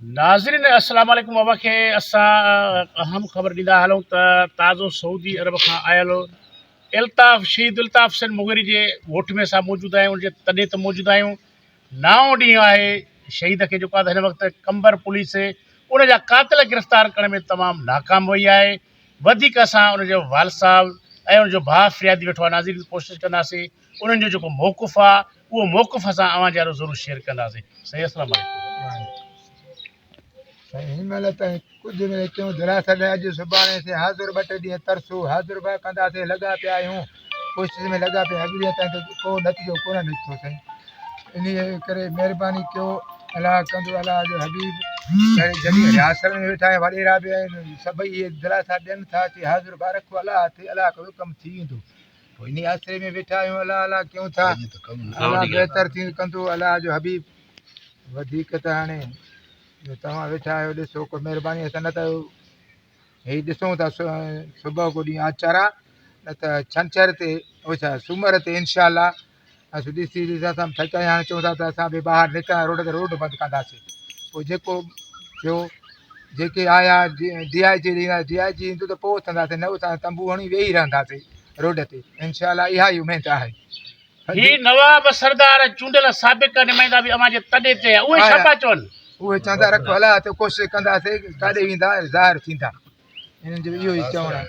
ناظرين السلام عليڪم اوهان کي اسان اهم خبر ڏيندا هلون ته تازو سعودي عرب کان آيل الطاف شهيد الطاف حسين مغيري جي ڳوٺ ۾ اسان موجود آهيون ان جي تڏي تي موجود آهيون نائون ڏينهن آهي شهيد کي جيڪو هن وقت قمبر پوليس ان جا قاتل گرفتار ڪرڻ ۾ تمام ناڪام وئي آهي وڌيڪ اسان ان جو والد صاحب ۽ ان جو ڀاء فريادي ويٺو آهي ناظرين ڪوشش ڪنداسين انهن جو جيڪو موقف آهي اهو موقف اسان اوهان جارو ضرور شيئر ڪنداسين سائين اسلام سائين هن مهل تائين ڪجهه نه اچيون دراصل ۾ اڄ سڀاڻي سي حاضر ٻه ٽي ڏينهن ترسو حاضر به ڪنداسين لڳا پيا آهيون ڪوشش ۾ لڳا پيا اڄ ڏينهن تائين ته ڪو نتيجو ڪونه نڪتو سائين انهيء ڪري مهرباني ڪيو الاء ڪندو الاء جو حبيب سائين جميع رياست ۾ ويٺا آهن وڏيرا به آهن سڀئي اهي دلاسا ڏين ٿا چي حاضر به رکو الاء ٿي الاء ڪندو ڪم ٿي ويندو پوء انهي آسري ۾ ويٺا آهيون الله الله ڪيون ٿا الله بهتر ٿيون ڪندو الله جو حبيب وڌيڪ ته هاڻي جو توهان ويٺا آهيو ڏسو ڪو مهرباني اسان نه ته هي ڏسون ٿا صبح ڪو ڏينهن آچر آ نه ته ڇنڇر تي او ڇا سومر تي انشاء الله اسين ڏسي ڏسي اسان به ٿڪي آهيا هاڻي چون ٿا ته اسان به ٻاهر نڪران روڊ تي روڊ بند ڪنداسين پوء جيڪو ٿيو جيڪي آيا ڊي آء جي ڏينهن ڊي آء جي ايندو ته پوء اٿنداسين نه اٿان تنبو هڻي ويهي رهنداسين روڊ تي انشاء الله اها ئي اميد آهي هي نواب سردار ۽ چونڊيل سابق نمائندا به اوهان جي تڏي تي آهيا اهي ڇا پيا چون اهي چون ٿا رکو الله هٿ ڪوشش ڪنداسين ڪاڏي ويندا ظاهر ٿيندا انهن جو اهو ئي چوڻ آهي